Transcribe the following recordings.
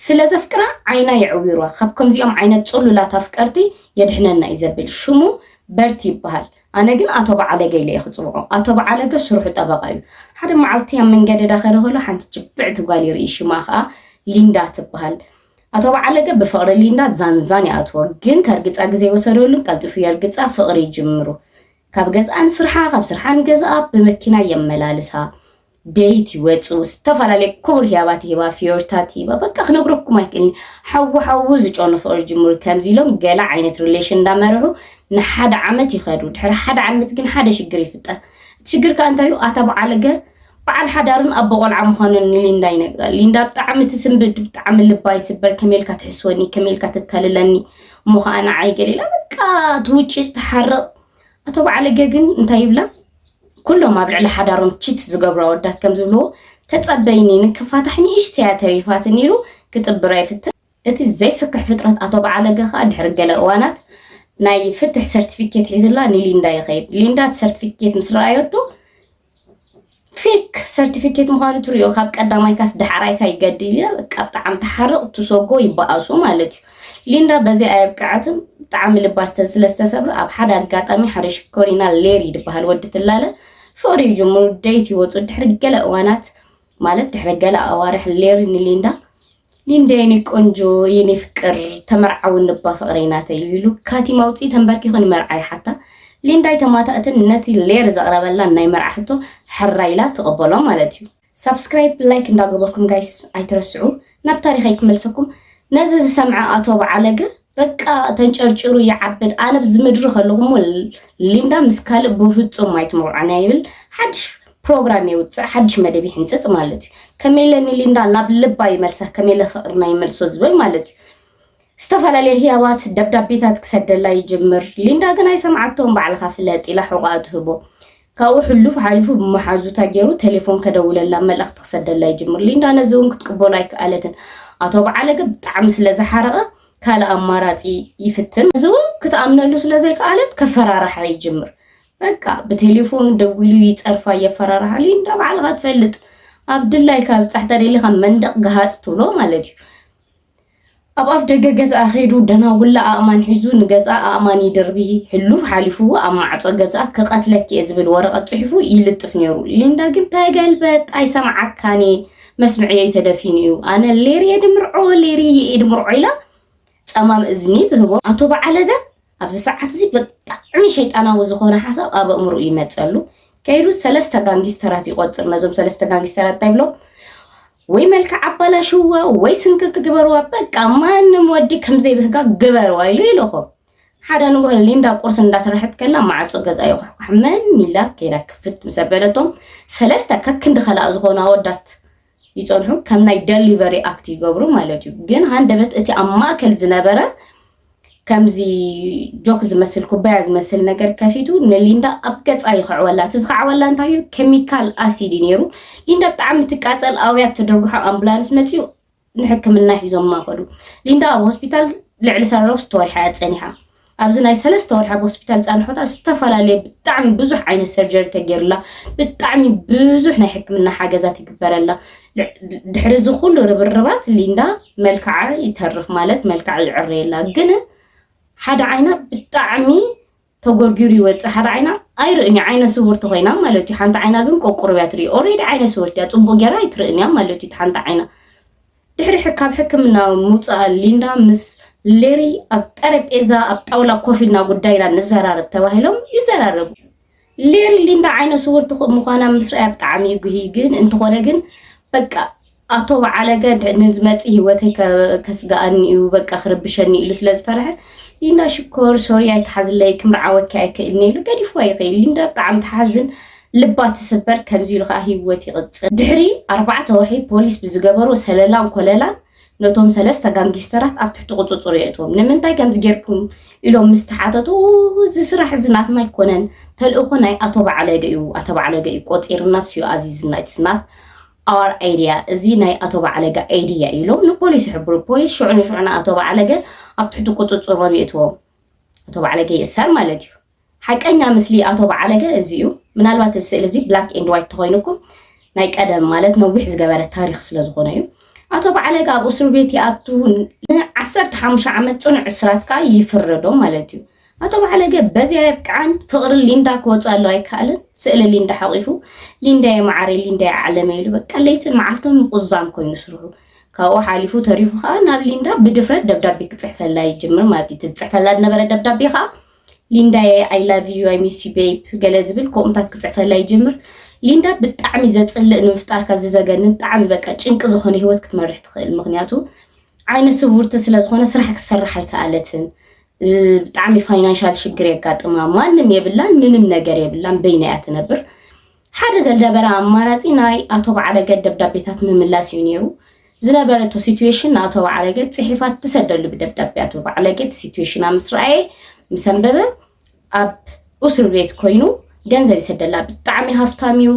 ስለ ዘፍቅራ ዓይና የዕዊሯ ካብ ከምዚኦም ዓይነት ጹሉላት ኣፍቀርቲ የድሕነና እዩ ዘብል ሽሙ በርቲ ይብሃል ኣነ ግን ኣቶ በዓለገ ኢለ እየ ክጽውዖ ኣቶ በዓለገ ስርሑ ጠበቃ እዩ ሓደ መዓልቲ ኣብ መንገዲ ዳኸደ ከሎ ሓንቲ ጅብዕቲ ጓል ይርኢ ሽማ ከኣ ሊንዳ ትብሃል ኣቶ በዓለገ ብፍቅሪ ሊንዳ ዛንዛን ይኣትዎ ግን ከርግጻ ግዜ ወሰደሉን ቀልጢፉ የርግጻ ፍቅሪ ይጅምሩ ካብ ገዝኣ ንስርሓ ካብ ስርሓ ንገዝኣ ብመኪና የመላልሳ። ደይቲ ይወጹ፣ ዝተፈላለየ ክቡር ህያባት ይህባ፣ ፍዮሪታት ይህባ። በቃ ክነግረኩም ኣይክእልን። ሓዉ ሓዉ ዝጨኑ ፍቕሪ ጅምሩ። ከምዚ ኢሎም ገለ ዓይነት ሪሌሽን እንዳመርሑ ንሓደ ዓመት ይኸዱ። ድሕሪ ሓደ ዓመት ግን ሓደ ሽግር ይፍጠር። እቲ ሽግር ከኣ እንታይ እዩ? ኣታ በዓልገ በዓል ሓዳርን ኣቦ ቆልዓ ምዃኑን ንሊንዳ ይነግራ። ሊንዳ ብጣዕሚ ትስንብድ፣ ብጣዕሚ ልባ ይስበር፣ ከመይ ኢልካ ትሕስወኒ፣ ከመይ ኢልካ ተታልለኒ፣ እሞ ኸኣ ንዓይ ገለ ኢላ በቃ ትውጭ ትሓርቕ። ኣቶ በዓለገ ግን እንታይ ይብላ? ኩሎም ኣብ ልዕሊ ሓዳሮም ቺት ዝገብሩ ኣወዳት ከም ዝብልዎ ተጸበይኒ ንክፋታሕ ንእሽተያ ተሪፋትኒ ኢሉ ክጥብራ ይፍትን። እቲ ዘይስክሕ ፍጥረት ኣቶ በዓለገ ከኣ ድሕሪ ገለ እዋናት ናይ ፍትሕ ሰርቲፊኬት ሒዝላ ንሊንዳ ይኸይድ። ሊንዳ እቲ ሰርቲፊኬት ምስ ረኣዮቶ ፌክ ሰርቲፊኬት ምዃኑ ትሪኦ ካብ ቀዳማይካስ ዳሕራይካ ይገድል ኢለ በቃ ብጣዕሚ ተሓርቕ ትሶጎ ይበኣሱ ማለት እዩ ሊንዳ በዚ ኣየብቅዐትን ብጣዕሚ ልባ ስለ ዝተሰብረ ኣብ ሓደ ኣጋጣሚ ሓደ ሽኮሪና ሌሪ ዝበሃል ወዲ ትላለ ፍቕሪ ይጅምሩ ደይት ይወፁ ድሕሪ ገለ እዋናት ማለት ድሕሪ ገለ ኣዋርሕ ሌሪ ንሊንዳ ሊንዳ የኔ ቆንጆ የኔ ፍቅር ተመርዓዊ ንባ ፍቅረይ ናተይ ኢሉ ካቲም ኣውፂኡ ተንበርኪኹ ንመርዓ ይሓታ ሊንዳ ኣይተማታእትን ነቲ ሌር ዘቅረበላ ናይ መርዓ ሕቶ ሕራይ ኢላ ትቅበሎ ማለት እዩ። ሳብስክራይብ ላይክ እንዳገበርኩም ጋይስ ኣይትረስዑ ናብ ታሪኸይ ክመልሰኩም ነዚ ዝሰምዐ ኣቶ በዓለገ በቃ ተንጨርጭሩ ይዓብድ ኣነ ብዚ ምድሪ ከለኹ እሞ ሊንዳ ምስ ካልእ ብፍጹም ኣይትመርዖን ይብል ሓድሽ ፕሮግራም የውፅእ ሓድሽ መደብ ይሕንፅፅ ማለት እዩ ከመይለ ንሊንዳ ናብ ልባ ይመልሳ ከመይለ ፍቅርና ይመልሶ ዝብል ማለት እዩ ዝተፈላለየ ህያባት ደብዳቤታት ክሰደላ ይጅምር ሊንዳ ግን ኣይሰምዓቶም ባዕልካ ፍለጥ ኢላ ሕቋኣ ትህቦ ካብኡ ሕሉፍ ሓሊፉ ብመሓዙታ ገይሩ ቴሌፎን ከደውለላ መልእኽቲ ክሰደላ ይጅምር። ሊንዳ ነዚ እውን ክትቅበሎ ኣይከኣለትን። ኣቶ በዓለገ ብጣዕሚ ስለ ዝሓረቐ ካልእ ኣማራጺ ይፍትን። እዚ እውን ክትኣምነሉ ስለ ዘይከኣለት ከፈራርሓ ይጅምር። በቃ ብቴሌፎን ደዊሉ ይጸርፋ፣ የፈራርሓ። ሊንዳ ባዕልኻ ትፈልጥ ኣብ ድላይካ ብጻሕ ተደሊኻ መንደቕ ግሃጽ ትብሎ ማለት እዩ። ኣብ ኣፍ ደገ ገዝኣ ከይዱ ደና ውላ ኣእማን ሒዙ ንገዝኣ ኣእማን ይድርቢ፣ ሕሉፍ ሓሊፉ ኣብ ማዕጾ ገዝኣ ክቐትለኪ'የ ዝብል ወረቐት ጽሒፉ ይልጥፍ ነይሩ። ሊንዳ ግን ተገልበጥ፣ ኣይሰምዓካን'የ፣ መስምዕየይ ተደፊኑ'ዩ፣ ኣነ ሌር'የ ድምርዖ፣ ሌርይ'የ ድምርዖ ኢላ ጸማም እዝኒ ትህቦ። ኣቶ በዓለገ ኣብዚ ሰዓት'ዚ ብጣዕሚ ሸይጣናዊ ዝኾነ ሓሳብ ኣብ ኣእምሮኡ ይመጸሉ። ከይዱ ሰለስተ ጋንጊስተራት ይቖጽር፣ ነዞም ሰለስተ ጋንጊስተራት እንታይ ይብሎም፣ ወይ መልክዕ ኣባላሽዋ ወይ ስንክልቲ ግበርዋ በቃ ማንም ወዲ ከምዘይ ብህጋ ግበርዋ ኢሉ ኢሉኹም ሓደ ንጉሆ ሊንዳ ቁርሲ እንዳሰራሐት ከላ ማዕጾ ገዛ ይኳሕኳሕ መን ኢላ ከይዳ ክፍት ምስ ኣበለቶም ሰለስተ ከክንዲ ከላእ ዝኾኑ ኣወዳት ይጸንሑ ከም ናይ ደሊቨሪ ኣክት ይገብሩ ማለት እዩ ግን ሃንደበት እቲ ኣብ ማእከል ዝነበረ ከምዚ ጆክ ዝመስል ኩባያ ዝመስል ነገር ከፊቱ ንሊንዳ ኣብ ገጻ ይኸዕወላ እቲ ዝኸዓወላ እንታይ እዩ ኬሚካል ኣሲድ እዩ ነይሩ ሊንዳ ብጣዕሚ ትቃጸል ኣውያት ትድርግሖ ኣምቡላንስ መጺኡ ንሕክምና ሒዞማ ከዱ ሊንዳ ኣብ ሆስፒታል ልዕሊ ሰለስተ ወርሒ እያ ጸኒሓ ኣብዚ ናይ ሰለስተ ወርሒ ኣብ ሆስፒታል ፃንሖታ ዝተፈላለየ ብጣዕሚ ብዙሕ ዓይነት ሰርጀሪ ተገይሩላ ብጣዕሚ ብዙሕ ናይ ሕክምና ሓገዛት ይግበረላ ድሕሪ እዚ ኩሉ ርብርባት ሊንዳ መልክዓ ይተርፍ ማለት መልክዓ ይዕረየላ ግን ሓደ ዓይና ብጣዕሚ ተጎርጊሩ ይወፅእ ሓደ ዓይና ኣይርእን እዩ ዓይነ ስውርቲ ኮይና ማለት እዩ ሓንቲ ዓይና ግን ቆቁርብ እያ ትርኢ ኦሬዲ ዓይነ ስውርቲ እያ ፅቡቅ ጌራ ኣይትርእን እያ ማለት እዩ ሓንቲ ዓይና ድሕሪ ካብ ሕክምና ምውፃኣ ሊንዳ ምስ ሌሪ ኣብ ጠረጴዛ ኣብ ጣውላ ኮፍ ኢልና ጉዳይና ንዘራረብ ተባሂሎም ይዘራረቡ ሌሪ ሊንዳ ዓይነ ስውርቲ ምዃና ምስ ርኣያ ብጣዕሚ እዩ ጉሂ ግን እንተኾነ ግን በቃ ኣቶ በዓለገ ንዝመፅእ ሂወተይ ከስጋኣኒ እዩ በቃ ክርብሸኒ ኢሉ ስለ ዝፈርሐ ሊንዳ ሽኮር ሶሪ ኣይትሓዝለይ ክምርዓወኪ ኣይክእልኒ ኢሉ ገዲፍዋ ይኽእል ሊንዳ ብጣዕሚ ትሓዝን ልባ ትስበር ከምዚ ኢሉ ከዓ ሂወት ይቕፅል ድሕሪ ኣርባዕተ ወርሒ ፖሊስ ብዝገበሮ ሰለላን ኮለላን ነቶም ሰለስተ ጋንጊስተራት ኣብ ትሕቲ ቁጽጽሩ የእትዎም። ንምንታይ ከምዚ ጌርኩም ኢሎም ምስ ተሓተቱ፣ እዚ ስራሕ እዚ ናትና ኣይኮነን፣ ተልእኾ ናይ ኣቶ በዓለገ እዩ፣ ኣቶ በዓለገ እዩ ቆጺርናስ እዩ ኣዚዝና፣ ኢትስ ናት ኣወር ኣይድያ፣ እዚ ናይ ኣቶ በዓለገ ኣይድያ እዩ ኢሎም ንፖሊስ ይሕብሩ። ፖሊስ ሽዑ ንሽዑ ንኣቶ በዓለገ ኣብ ትሕቲ ቁጽጽሮም የእትዎም። ኣቶ በዓለገ ይእሰር ማለት እዩ። ሓቀኛ ምስሊ ኣቶ በዓለገ እዚ እዩ። ምናልባት እዚ ስእሊ እዚ ብላክ ኤንድ ዋይት ተኾይኑኩም ናይ ቀደም ማለት ነዊሕ ዝገበረ ታሪኽ ስለ ዝኾነ እዩ። ኣቶ በዓለገ ኣብ እሱር ቤት ይኣቱ ን ዓሰርተ ሓሙሽተ ዓመት ጽኑዕ እስራት ከኣ ይፍረዶም ማለት እዩ። ኣቶ በዓለገ በዚ ኣየብቅዓን ፍቕሪ ሊንዳ ክወጽኣሉ ኣይከኣለን። ስእሊ ሊንዳ ሓቚፉ ሊንዳየ መዓረይ ሊንዳየ ዓለመይ ኢሉ በቃ ለይትን መዓልትን ምቑዛም ኮይኑ ስርሑ። ካብኡ ሓሊፉ ተሪፉ ከኣ ናብ ሊንዳ ብድፍረት ደብዳቤ ክጽሕፈላ ይጅምር ማለት እዩ። እቲ ዝጽሕፈላ ዝነበረ ደብዳቤ ከኣ ሊንዳየ ኣይ ላቭ ዩ ኣይ ሚስ ዩ ቤብ ገለ ዝብል ኮምታት ክጽሕፈላ ይጅምር ሊንዳ ብጣዕሚ ዘጽልእ ንምፍጣርካ ዝዘገንን ብጣዕሚ በቃ ጭንቂ ዝኾነ ህይወት ክትመርሕ ትኽእል ምኽንያቱ ዓይነ ስውርቲ ስለ ዝኾነ ስራሕ ክትሰርሕ ኣይከኣለትን ብጣዕሚ ፋይናንሻል ሽግር የጋጥማ ማንም የብላን ምንም ነገር የብላን በይና እያ ትነብር ሓደ ዘልደበረ ኣማራጺ ናይ ኣቶ በዓረገ ደብዳቤታት ምምላስ እዩ ነይሩ። ዝነበረቶ ሲትዌሽን ንኣቶ በዓረገ ጽሒፋ ትሰደሉ ብደብዳቤ ኣቶ በዓለገ እቲ ሲትዌሽና ምስ ረኣየ ምስ ኣንበበ ኣብ ኡሱር ቤት ኮይኑ ገንዘብ ይሰደላ ብጣዕሚ ሃፍታም እዩ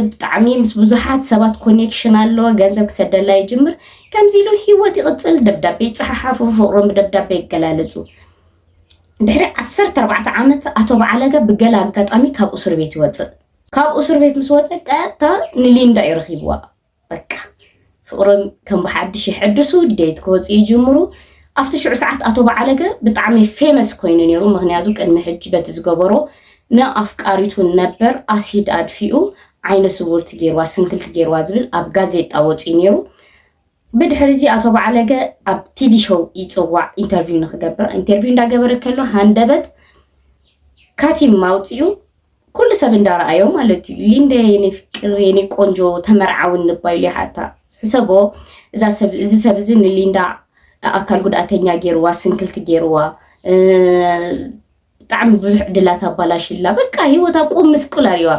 ብጣዕሚ ምስ ብዙሓት ሰባት ኮኔክሽን ኣለዎ ገንዘብ ክሰደላ ይጅምር ከምዚ ኢሉ ሂወት ይቕጽል ደብዳቤ ይጸሓሓፉ ፍቕሮም ብደብዳቤ ይገላለጹ ድሕሪ ዓሰርተ ኣርባዕተ ዓመት ኣቶ በዓለገ ብገለ ኣጋጣሚ ካብ እሱር ቤት ይወፅእ። ካብ እሱር ቤት ምስ ወፀ ቀጥታ ንሊንዳ እዩ ረኺብዋ። በቃ ፍቕሮም ከም ብሓድሽ ይሕድሱ፣ ዴት ክወፅኡ ይጅምሩ። ኣብቲ ሽዑ ሰዓት ኣቶ በዓለገ ብጣዕሚ ፌመስ ኮይኑ ነይሩ። ምክንያቱ ቅድሚ ሕጂ በቲ ዝገበሮ ንኣፍቃሪቱ ነበር ኣሲድ ኣድፊኡ ዓይነ ስውርቲ ገይርዋ ስንክልቲ ገይርዋ ዝብል ኣብ ጋዜጣ ወፂኡ ነይሩ። ብድሕሪ'ዚ ኣቶ በዓለገ ኣብ ቲቪ ሾው ይጽዋዕ ኢንተርቪው ንኽገብር። ኢንተርቪው እንዳገበረ ከሎ ሃንደበት ካቲም ኣውጺኡ ኩሉ ሰብ እንዳረኣዮ ማለት እዩ። ሊንደ የኔ ፍቅር የኔ ቆንጆ ተመርዓዊ እንባ ኢሉ ይሓታ። ሕሰቦ እዛ ሰብ እዚ ሰብ እዚ ንሊንዳ ኣካል ጉድኣተኛ ጌርዋ፣ ስንክልቲ ጌርዋ፣ ብጣዕሚ ብዙሕ ዕድላት ኣባላሽላ በቃ ሂወታ ቁም ምስቁል ኣሪዋ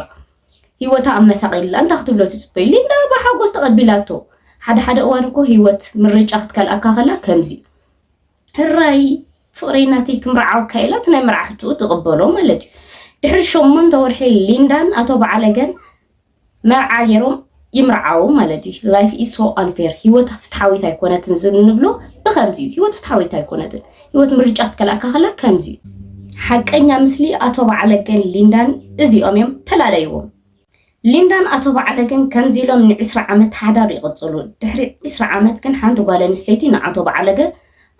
ሂወታ ኣመሳቂልላ እንታይ ክትብሎ ትጽበዩ ሊንዳ ብሓጎስ ተቐቢላቶ ሓደ ሓደ እዋን እኮ ሂወት ምርጫ ክትከልኣካ ከላ ከምዚ ህራይ ፍቕረይ ናተይ ክምርዓወካ ኢላ እቲ ናይ መርዓ ሕትኡ ትቕበሎ ማለት እዩ ድሕሪ ሸሞንተ ወርሒ ሊንዳን ኣቶ በዓለገን መርዓ ጌሮም ይምርዓዉ ማለት እዩ ላይፍ ኢዝ ሶ ኣንፌር ሂወት ፍትሓዊት ኣይኮነትን ዝብል ንብሎ ብከምዚ እዩ ሂወት ፍትሓዊት ኣይኮነትን ሂወት ምርጫ ክትከልኣካ ከላ ከምዚ እዩ ሓቀኛ ምስሊ ኣቶ በዓለገን ሊንዳን እዚኦም እዮም ተላለይዎም ሊንዳን ኣቶ በዓለገን ከምዚ ኢሎም ንዕስራ ዓመት ሓዳር ይቕጽሉ ድሕሪ ዕስራ ዓመት ግን ሓንቲ ጓል ኣንስተይቲ ንኣቶ በዓለገ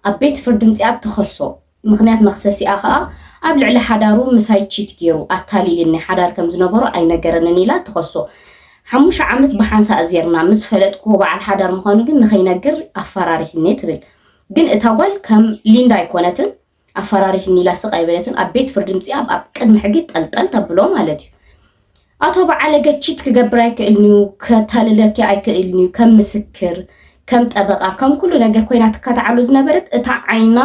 ኣብ ቤት ፍርዲ ምጽኣት ተኸሶ ምኽንያት መኽሰሲኣ ከኣ ኣብ ልዕሊ ሓዳሩ ምሳይ ቺት ጌሩ ኣታሊልኒ ሓዳር ከም ዝነበሮ ኣይነገረንን ኢላ ትኸሶ። ሓሙሽተ ዓመት ብሓንሳእ ዜርና፣ ምስ ፈለጥክዎ በዓል ሓዳር ምዃኑ ግን ንኸይነግር ኣፈራሪሑኒ ትብል። ግን እታ ጓል ከም ሊንዳ ኣይኮነትን፣ ኣፈራሪሑኒ ኢላ ስቕ ኣይበለትን፣ ኣብ ቤት ፍርዲ ምጺኣ ኣብ ቅድሚ ሕጊ ጠልጠል ተብሎ ማለት'ዩ። ኣቶ በዓለገ ቺት ክገብር ኣይክእልንዩ ከታልለኪ ኣይክእልንዩ ከም ምስክር ከም ጠበቃ ከም ኩሉ ነገር ኮይና ትካታዓሎ ዝነበረት እታ ዓይና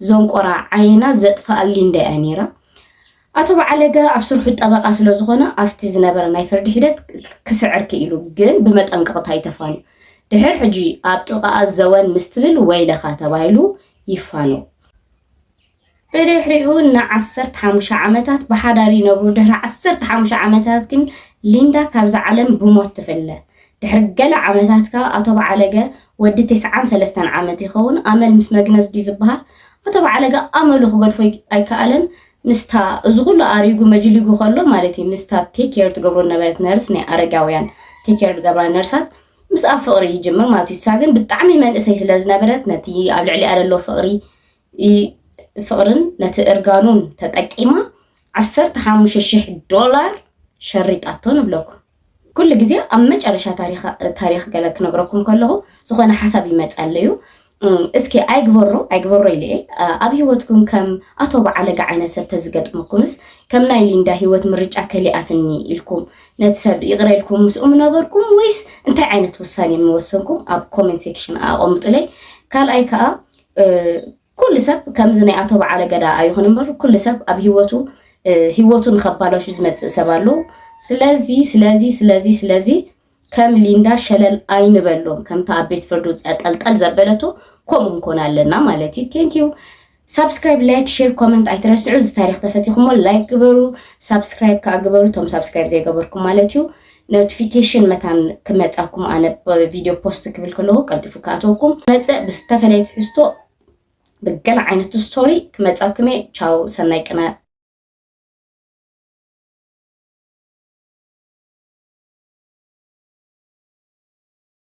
ዞንቆራ ዓይና ዘጥፋኣ ሊንዳ እያ ነይራ ኣቶ በዓለገ ኣብ ስርሑ ጠበቃ ስለ ዝኾነ ኣብቲ ዝነበረ ናይ ፍርዲ ሒደት ክስዕር ክኢሉ ግን ብመጠንቀቅታ እዩ ተፋንዩ ድሕር ሕጂ ኣብ ጥቃኣ ዘወን ምስትብል ወይለኻ ተባሂሉ ይፋነው ብድሕሪኡ ን ዓሰርተ ሓሙሽተ ዓመታት ብሓዳር ይነብሩ፣ ድሕሪ ዓሰርተ ሓሙሽተ ዓመታት ግን ሊንዳ ካብዛ ዓለም ብሞት ትፍለ። ድሕሪ ገለ ዓመታት ከኣ ኣቶ በዓለገ፣ ወዲ ተስዓን ሰለስተን ዓመት ይኸውን፣ ኣመል ምስ መግነዝ ድዩ ዝበሃል? ኣቶ በዓለገ ኣመሉ ክገድፎ ኣይከኣለን፣ ምስታ እዚ ኩሉ ኣሪጉ መጅሊጉ ከሎ ማለት እዩ፣ ምስታ ቴክ ኬር ትገብሮ ዝነበረት ነርስ፣ ናይ ኣረጋውያን ቴክ ኬር ዝገብራ ነርሳት ምስኣ ፍቕሪ ይጅምር ማለት እዩ፣ ንሳ ግን ብጣዕሚ መንእሰይ ስለዝነበረት ነቲ ኣብ ልዕሊኣ ዘሎ ፍቕሪ ፍቕርን ነቲ እርጋኑን ተጠቂማ ዓሰርተ ሓሙሽተ ሽሕ ዶላር ሸሪጣቶ ንብለኩም። ኩሉ ግዜ ኣብ መጨረሻ ታሪኽ ገለ ክነግረኩም ከለኹ ዝኾነ ሓሳብ ይመጸለዩ እስኪ ኣይግበሮ ኣይግበሮ ኢለ እየ ኣብ ሂወትኩም ከም ኣቶ በዓለጋ ዓይነት ሰብ ተዝገጥመኩምስ ከም ናይ ሊንዳ ሂወት ምርጫ ከሊኣትኒ ኢልኩም ነቲ ሰብ ይቕረ ኢልኩም ምስኡ ምነበርኩም ወይስ እንታይ ዓይነት ውሳኔ ምወሰንኩም ኣብ ኮሜንት ሴክሽን ኣቐምጡለይ ካልኣይ ከዓ ኩሉ ሰብ ከምዚ ናይ ኣቶ በዓለ ገዳ ኣይኹን እምበር ኩሉ ሰብ ኣብ ሂወቱ ሂወቱ ንኸባላሹ ዝመጽእ ሰብ ኣሎ። ስለዚ ስለዚ ስለዚ ስለዚ ከም ሊንዳ ሸለል ኣይንበሎም ከምታ ኣብ ቤት ፍርዲ ውጽያ ጠልጠል ዘበለቶ ከምኡ ንኮን ኣለና ማለት እዩ። ቴንክ ዩ ሳብስክራይብ ላይክ ሼር ኮመንት ኣይትረስዑ እዚ ታሪክ ተፈቲኹሞ ላይክ ግበሩ ሳብስክራይብ ከዓ ግበሩ እቶም ሳብስክራይብ ዘይገበርኩም ማለት እዩ ኖትፊኬሽን መታን ክመጻኩም ኣነ ቪድዮ ፖስት ክብል ከለኩ ቀልጢፉ ክኣትወኩም ክመጽእ ብዝተፈለየ ትሕዝቶ ብገለ ዓይነት ስቶሪ ክመጻኩም እየ ቻው ሰናይ ቅነ